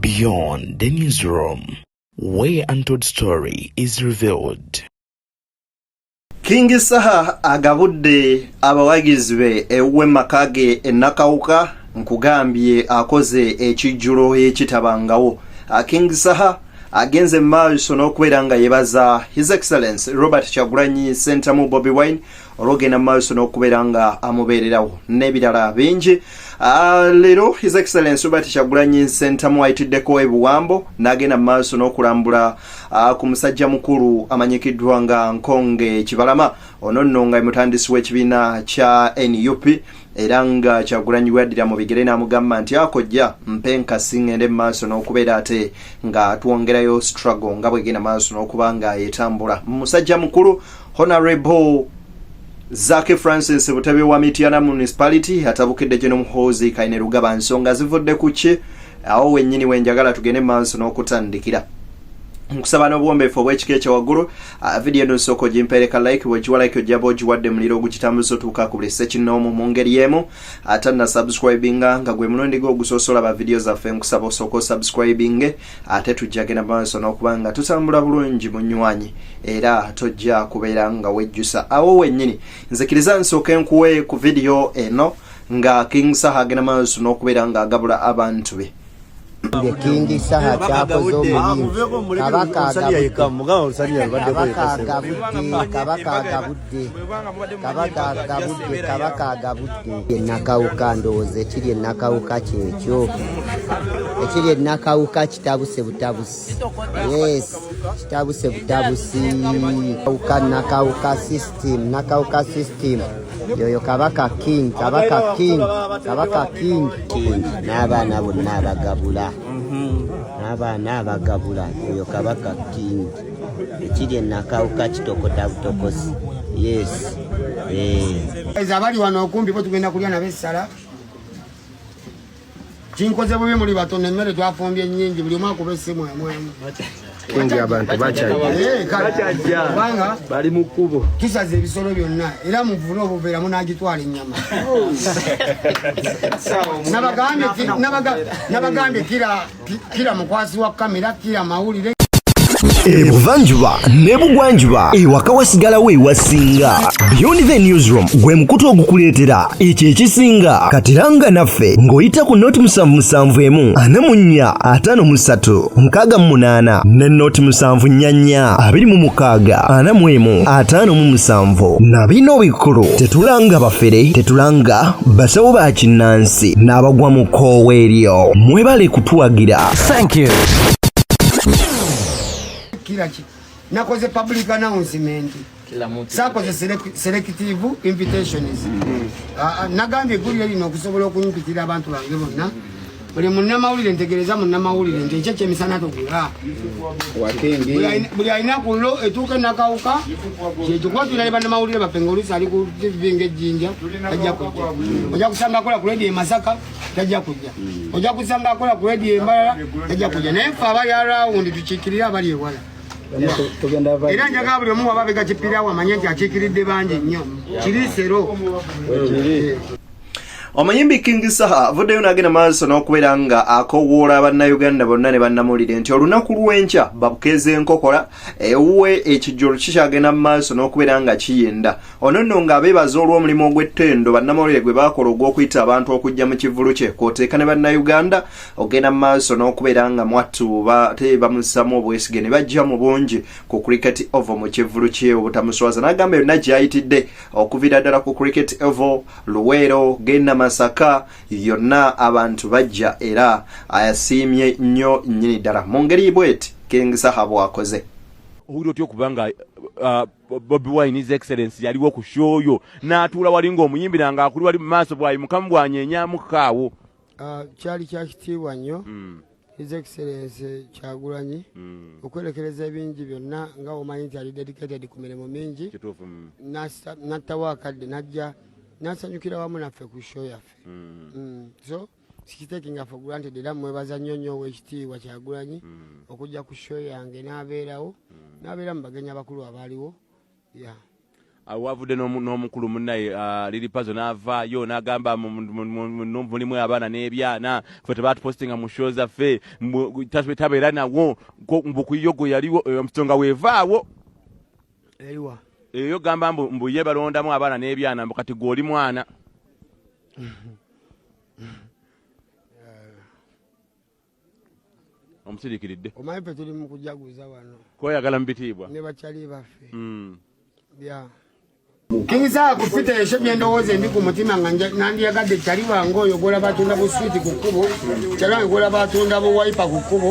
Beyond the newsroom, where untold story is revealed. King Saha agabudde abawagizi be ewuwe maka ge e Nakawuka nkugambye akoze ekijjulo ekitabangawo. Ah, King Saha agenze mu maaso n'okubeera nga yebaza His Excellence Robert Kyagulanyi Ssentamu Bobi Wine olwogenda mu maaso n'okubeera nga amubeererawo n'ebirala bingi ah, leero his excellence oba tekyagulanyi nsentamu ayitiddeko ebuwambo n'agenda mu maaso n'okulambula ah, ku musajja mukulu amanyikiddwa nga nkonge kibalama ono nno nga emutandisi w'ekibiina kya nup era nga kyagulanyi bwaddira mu bigere n'amugamba nti akojja mpe nkasi ngende mu maaso n'okubeera ate nga twongerayo struggle nga bwegenda maaso n'okuba nga etambula musajja mukulu Honorable Zaki Francis Butebe wa Mityana Municipality atabukidde gye n'omuhoozi Kaine Rugaba nsonga zivudde ku ki awo wennyini wenjagala tugende maaso n'okutandikira nkusaba n'obuwombeefu obw'ekika ekya waggulu ah, vidiyo eno nsooka ogimpeereka like bwegiwa like ojjaba ogiwadde muliro ogugitambuza otuuka ku buli sekinoomu mu ngeri emu ate na subscribinga nga gwe mulundi gwe ogusoosoola ba vidiyo zaffe nkusaba osooka osubscribinge ate tujja genda maaso n'okuba nga tutambula bulungi munywanyi era tojja kubeera nga wejjusa awo wennyini nzikiriza nsooke nkuwe ku vidiyo eno nga king saha agenda maaso n'okubeera nga agabula abantu be nge kingi saha kyakoze omulimu kabaka agabudde kabaka agabudde kabaka agabudde enakawuka ndowooza ekiri enakawuka kyekyo ekiri enakawuka kitabuse butabusi yes kitabuse butabusi kawuka nakawuka system nakawuka system yoyo kabaka king kabaka king kabaka king n'abaana bonna abagabula mhm. n'abaana abagabula yoyo kabaka king ekiri enakawuka kitokota butokosi yes eh. abali wano okumbi bo tugenda kulya nabo essala kinkoze bubi muli batono emmere twafumbye nyingi buli omu akuba essimu emwemu kingi abantu bakyajjakubanga eh, bali mu kkubo tusaza ebisolo byonna era muvule obuveera munagitwala ennyama nabagambye kira kila mukwasi wa kamera kila mawulire ebuvanjuba ne bugwanjuba ewaka wasigalawo ewasinga beyond the newsroom gwe mukutu ogukuleetera ekyo ekisinga katiranga naffe ng'oyita ku noti musanvu musanvu emu ana mu nnya ataano mu ssatu mukaaga mu munaana ne noti musanvu nnya nnya abiri mu mukaaga ana mu emu ataano mu musanvu na bino bikulu tetulanga bafere tetulanga basawo ba kinnansi amasasi n'abagwa mu kkoowa eryo mwebale kutuwagira thank you kiraki nakoze public announcement sakoze selective invitations mm-hmm. ah, ah, nagambye eggulire lino okusobola okumpitira abantu bange bonna buli munamawulire ntegereza munamawulire nti ekyo kyemisana togula buli alina kullo etuuka enakawuka kyekikwatulira ne bannamawulire baffe nga oluusi ali ku tivi ngaejjinja tajja kujja ojja kusanga akola ku rediyo emasaka tajja kujja ojja kusanga akola ku rediyo embalala tajja kujja naye ffe abali arawundi tukiikirire abali ewala era njagala buli omu waba abega kipirawo amanye nti akiikiridde bangi nnyo kiriisero omuyimbi king saha avuddeyo n'agenda maaso n'okubeera nga akowoola bannayuganda bonna ne bannamulire nti olunaku lw'enkya babukeeza enkokola ewuwe ekijjolo kikyagenda mu maaso n'okubeera nga kiyinda ono nno ng'abeebaza olw'omulimu ogw'ettendo bannamawulire gwe baakola ogw'okuyita abantu okujja mu kivulu kye kwoteeka ne bannayuganda ogenda mu maaso n'okubeera nga mwattu bate bamussamu obwesige ne bajja mu bungi ku cricket ovo mu kivulu kye obutamuswaza n'agamba yonna gy'ayitidde okuvira ddala ku cricket evo luweero genda masaka yonna abantu bajja era asiimye nnyo nnyini ddala mu ngeri bweti king saha bwakoze owulira otya okuba nga uh, bobi wine is excellence yaliwo ku shooyo n'atuula wali ng'omuyimbi nange akuli wali mu maaso bwayi mukamu bwanyenyamukaawo uh, kyali kyakitiibwa nnyo mm. His Excellency Kyagulanyi mm. okwerekereza ebingi byonna nga omanyi nti ali dedicated ku mirimu mingi mm. nattawo akadde najja nasanyukira wamu naffe ku show yaffe mm. mm. so sikitekinga fe granted era mwebaza nnyo nnyo owekitiibwa Kyagulanyi mm. okujja ku show yange n'abeerawo mm. n'abeera mu bagenyi abakulu abaaliwo Ah, wavudde n'omukulu munnaye ah, liri pazo n'avaayo n'agamba mulimu abaana n'ebyana fe tebaatupostinga mu sho zaffe tabeera nawo mbukuyiyo gwe yaliwo eh, omusonga weevaawo eyo gamba mbu ye balondamu abaana n'ebyana mbu kati gwe oli mwana omusirikiridde omanyi fe tuli mukujaguza wano koyagala mubitiibwa ne bakyali baffe mm. bya nkiza kufita esho byendowooza endi ku mutima nga nandiyagadde kyali wange oyo gola batunda bu switi ku kkubo kyali wange gola batunda bu waipa ku kkubo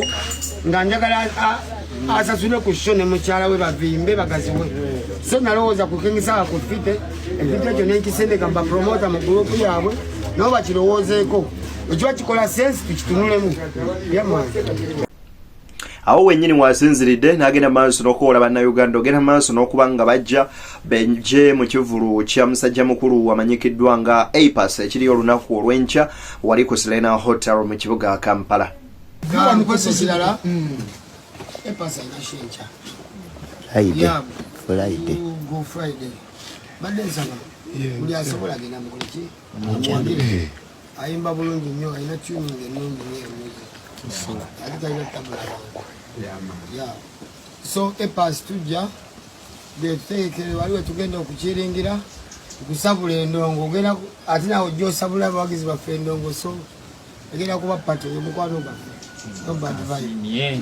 nga njagala asasule ku sho ne mukyala we bavimbe bagaziwe so nalowooza ku kingisaa kufite ekintu ekyo nenkisendeka mbapromota mu gurupu yaabwe nabo bakirowoozeeko ekiba kikola sense tukitunulemu yamani awo wenyini wasinziridde n'agenda maaso n'okuwola bannayuganda ogenda maaso n'okuba nga bajja benje mu kivulu kya musajja mukulu wamanyikiddwa nga apas ekiriyo olunaku olw'enkya wali ku selena hotel mu kibuga kampala ayimba bulungi nnyo alina tuning ennungi nyo emuzi ate talina tabula ya so epas tujja getutegekere wali wetugenda okukiringira kusabula endongo ogenda ate nawe ojja osabula abawagizi baffe endongo so egenda kuba pato yomukwano gwaffe no bad vibe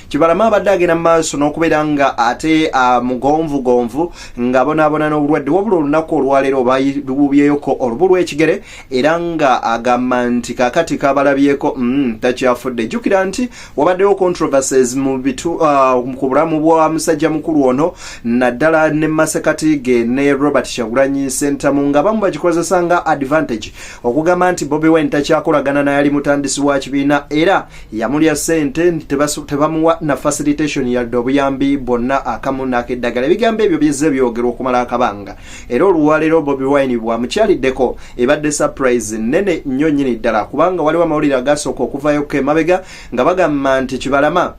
Kibalama abadde agenda mu maaso n'okubeera nga ate mugonvugonvu ng'abonaabona n'obulwadde wabula olunaku olwaleero balububyeyoko olubu lw'ekigere era nga agamba nti kakati kabalabyeko mm, takyafudde jjukira nti wabaddewo controversies mu bitu uh, ku bulamu bwa musajja mukulu ono naddala ne masekati ge ne robert kyagulanyi sentamu nga bamu bagikozesa nga advantage okugamba nti bobi wine takyakolagana nayali mutandisi wa kibiina era yamulya sente nti tebamuwa na facilitation yadde obuyambi bwonna akamu n'akeddagala ebigambo ebyo bizze byogerwa okumala akabanga era oluwalero bobi wine bwamukyaliddeko ebadde surprise nene nnyo nnyini ddala kubanga waliwo amawulire agasooka okuvayo kemabega nga bagamba nti kibalama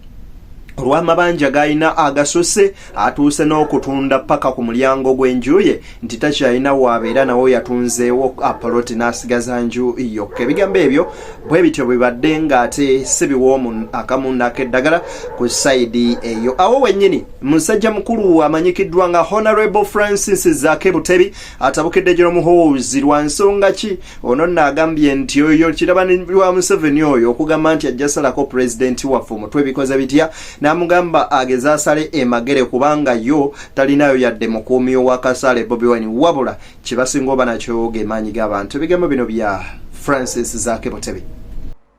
olw'amabanja g'alina agasose atuuse n'okutunda paka ku mulyango gw'enju ye nti takyalina waabeera nawo yatunzeewo apoloti n'asigaza nju yokka ebigambo ebyo bwe bityo bibadde ng'ate si biwoomu akamunda ak'eddagala ku sayidi eyo awo wennyini musajja mukulu amanyikiddwa nga honorable francis zake butebi atabukidde gino muhoozi lwa nsonga ki ono nno agambye nti oyo kirabani wa museveni oyo okugamba nti ajja salako pulezidenti waffe omutwe bikoze bitya n'amugamba ageze asale emagere kubanga yo talinayo yadde mukuumi owakasaale bobi wine wabula kyebasinga oba nakyo gemaanyi g'abantu ebigambo bino bya francis zake butebe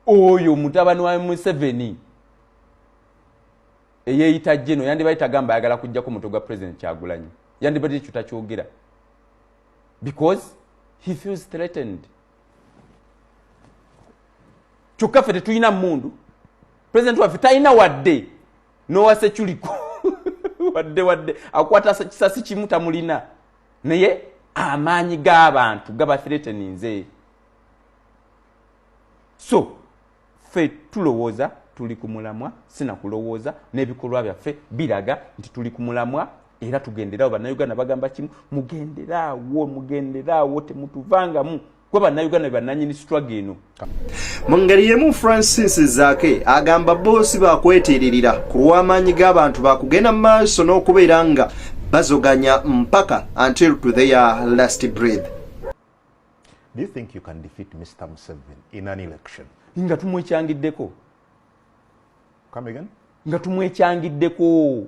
oyo mutabani wa museveni eyeyita jeno yandibadde tagamba ayagala kujjako mutwe gwa president kyagulanyi yandibadde ekyo takyogera because he feels threatened kyokka ffe tetulina mundu president waffe talina wadde nowa security wadde wadde akwata kisasi kimu tamulina naye amaanyi g'abantu gaba threateninze so ffe tulowooza tuli ku mulamwa sinakulowooza n'ebikolwa byaffe biraga nti tuli ku mulamwa era tugenderaawo bannayuganda bagamba kimu mugenderaawo mugenderaawo temutuvangamu gwe bannayuganda be bannanyini sitwaga eno mu ngeri yemu francis zaake agamba boosi bakwetiiririra ku lw'amaanyi g'abantu bakugenda mu maaso n'okubeera nga bazoganya mpaka until to their last breath do you think you can defeat mr museven in an election nga tumwekyangiddeko come again nga tumwekyangiddeko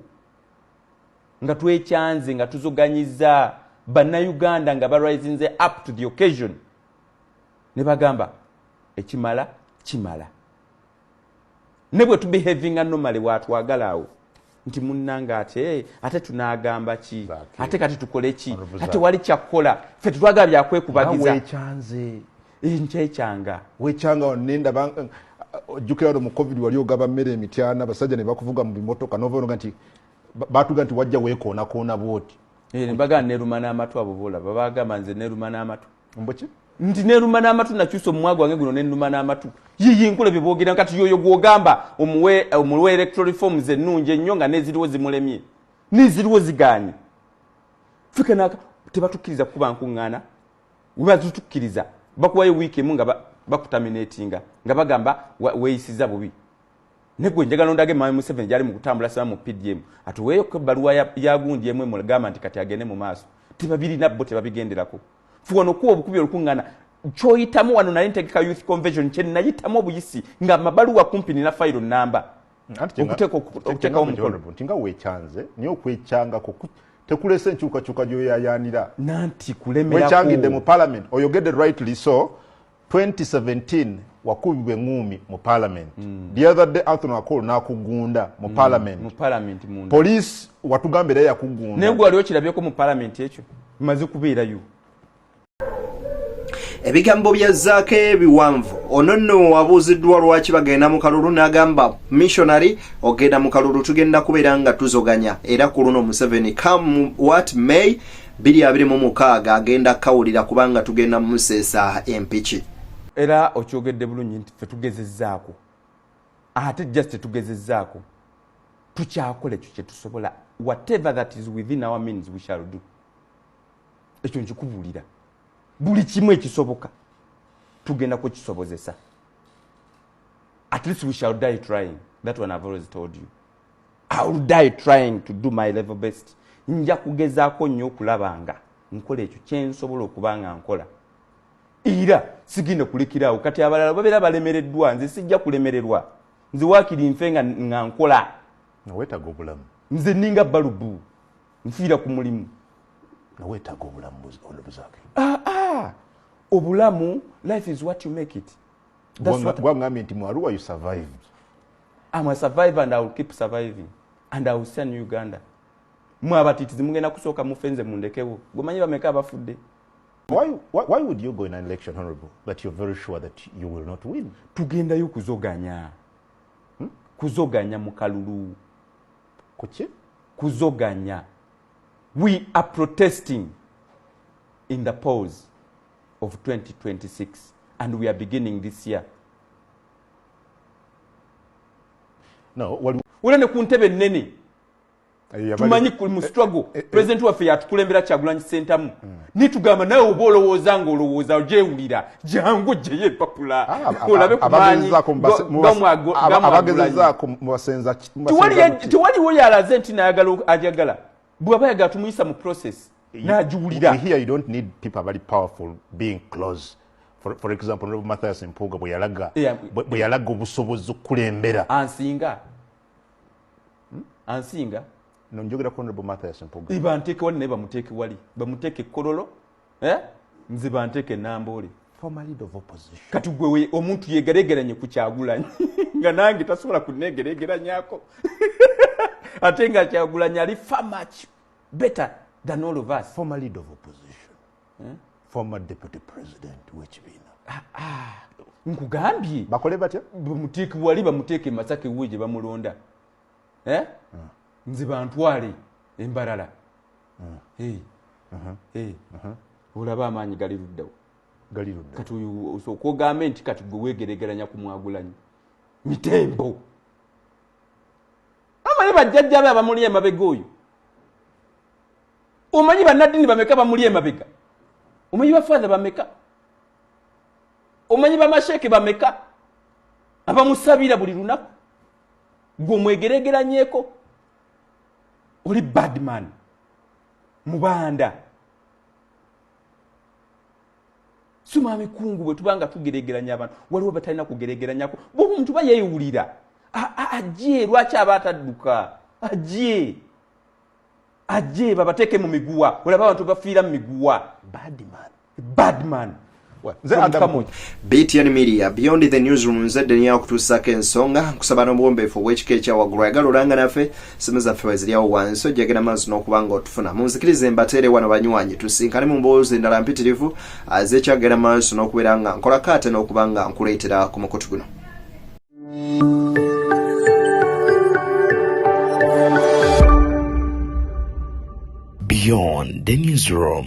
nga twekyanze nga tuzoganyiza bannayuganda nga barisinze up to the occasion ne bagamba ekimala kimala ne bwe tubehavinga nomale bwatwagala awo nti munnanga ate ate tunagamba ki ate kati tukole ki ate wali kyakukola fe tetwagala byakwekubagiza eh, nkyekyanga wekyanga nendaba eh, ojjukira wano mu covid wali ogaba mmere emityana abasajja ne bakuvuga mu bimotoka novaonoga nti batuga nti wajja weekoonakoona bwoti eh, bagaa neruma n'amatu abo boolaba bagamba nze neruma n'amatu mbuki nti neluma n'amatu nakyusa omumwa gwange guno nenuma n'amatu yiyi nkula bye boogera kati yoyo gwogamba omuwe omuwe electoral reforms ennungi ennyo nga neziriwo zimulemye neziriwo zigaanye fika naka tebatukkiriza kukuba nkuŋŋaana webazitukkiriza bakuwayo wiiki emu nga bakutaminatinga nga bagamba weeyisiza bubi negwe njagala ondage mami museveni gyali mukutambula sema mu pdm atuweeyo ko ebbaluwa yagundi emu emugamba nti kati agende mu maaso tebabirina bo tebabigenderako fuwa nokuwa obukubi olukuŋŋana kyoyitamu wano nali ntegeka youth convention kye nayitamu obuyisi nga amabaluwa kumpi nina fayiro namba okuteekawo omukolo nti nga wekyanze naye okwekyangako tekulese enkyukakyuka gyoyayaanira nanti kulemerako wekyangidde mu parliament oyogedde rightly so 2017 wakubibwa eŋuumi mu parliament mm. the other day anthony akol nakugunda mu hmm. parliament mm. parliament munda police watugamba era yakugunda naye gwe wali okirabyeko mu parliament ekyo maze kubeerayo ebigambo bya zaako ebiwanvu ono nno wabuuziddwa lwaki bagenda mu kalulu n'agamba missionary ogenda mu kalulu tugenda kubeera nga tuzoganya era ku luno museveni come what may biri abiri mu mukaaga agenda kukawulira kubanga tugenda museesa empiki era okyogedde bulungi nti fe tugezezaako ate just tetugezezaako tukyakola ekyo kyetusobola whatever that is within our means we shall do ekyo nkikubuulira buli kimu ekisoboka tugenda kukisobozesa at least we shall die trying that one i've always told you I will die trying to do my level best nja kugezaako nnyo okulaba nga nkola ekyo kyensobola okuba nga nkola era sigenda kulekiraawo kati abalala babeera balemereddwa nze sijja kulemererwa nze waakiri nfe nga nkola nawetaga obulamu nze ninga balubu nfiira ku mulimu nawetaga obulamu ah, ah. obulamu life is what you make it gwangambye nti mu aruwa you survived am a survivor and i will keep surviving and i will send uganda mwe abatitizi mugenda kusooka mufe nze mundekewo gwemanyi bameka abafudde Why, why, why would you go in an election, Honorable, that you're very sure that you will not win? Tugendayo kuzoganya. Hmm? Kuzoganya mukalulu. Kuchi? Kuzoganya. We are protesting in the polls. of 2026 and we are beginning this year no, wali... wala ne ku ntebe nnene eh, tumanyi ku mu eh, struggle eh, eh, eh, president waffe yatukulembera kyagulanyi sentamu mm. nitugamba nawe oba olowooza nga olowooza gyewulira jangu gyeyo empapula ah, olabe kumanyiabagezezaako mubasenza tewaliwo yalaze nti nayagala ajagala bwaba yaga tumuyisa mu process najiwulira here you don't need people abali powerful being close for, for example nobu mathias mpuuga bwe yalaga yeah. bwe yalaga obusobozi okulembera ansinga hmm? ansinga no njogera ku nobu mathias mpuuga iba nteke wali naye bamuteke wali bamuteke kololo eh? nziba nteke namboole kati gwe omuntu yegeregeranye ku kyagulanyi nga nange tasobola kunegeregeranyako ate nga kyagulanyi ali far much better than all of us former leader of opposition eh? former deputy president wekibiina ah, ah. nkugambye bakole batya bamuteeke wali bamuteeke masake wuwe gye bamulonda eh? ah. nze bantwale embarala olaba amaanyi gali luddawo gali ludda kati okwogambe nti kati gwe weegeregeranya ku mwagulanyi mitembo amale bajjajja be abamuli emabega oyo omanyi banaddini bameka bamuli emabega omanyi bafaatha bameka omanyi bamasheeke bameka abamusabira buli lunaku gwe omwegeregeranyeko oli badman mubanda sima mikungu bwe tuba nga tugeregeranya abantu waliwo batalina kugeregeranyako bwoba omuntu ba yeewulira ajje lwaki aba atadduka ajje ajje babateeke mu miguwa olaba abantu bafiira mu miguwa badman bad man btn media beyond the newsroom nze deni yakutuusako ensonga nkusaba n'obuwombeefu obw'ekika ekyawaggulu ayagala olanga naffe simu zaffe weziryawo wansi ojjagera maazi n'okuba nga otufuna munzikirize mbateere wano banywanyi tusinkane mu mboozi endala mpitirivu azekyagera maaso n'okubeera nga nkolako ate n'okuba nga nkuleetera ku mukutu guno beyond the newsroom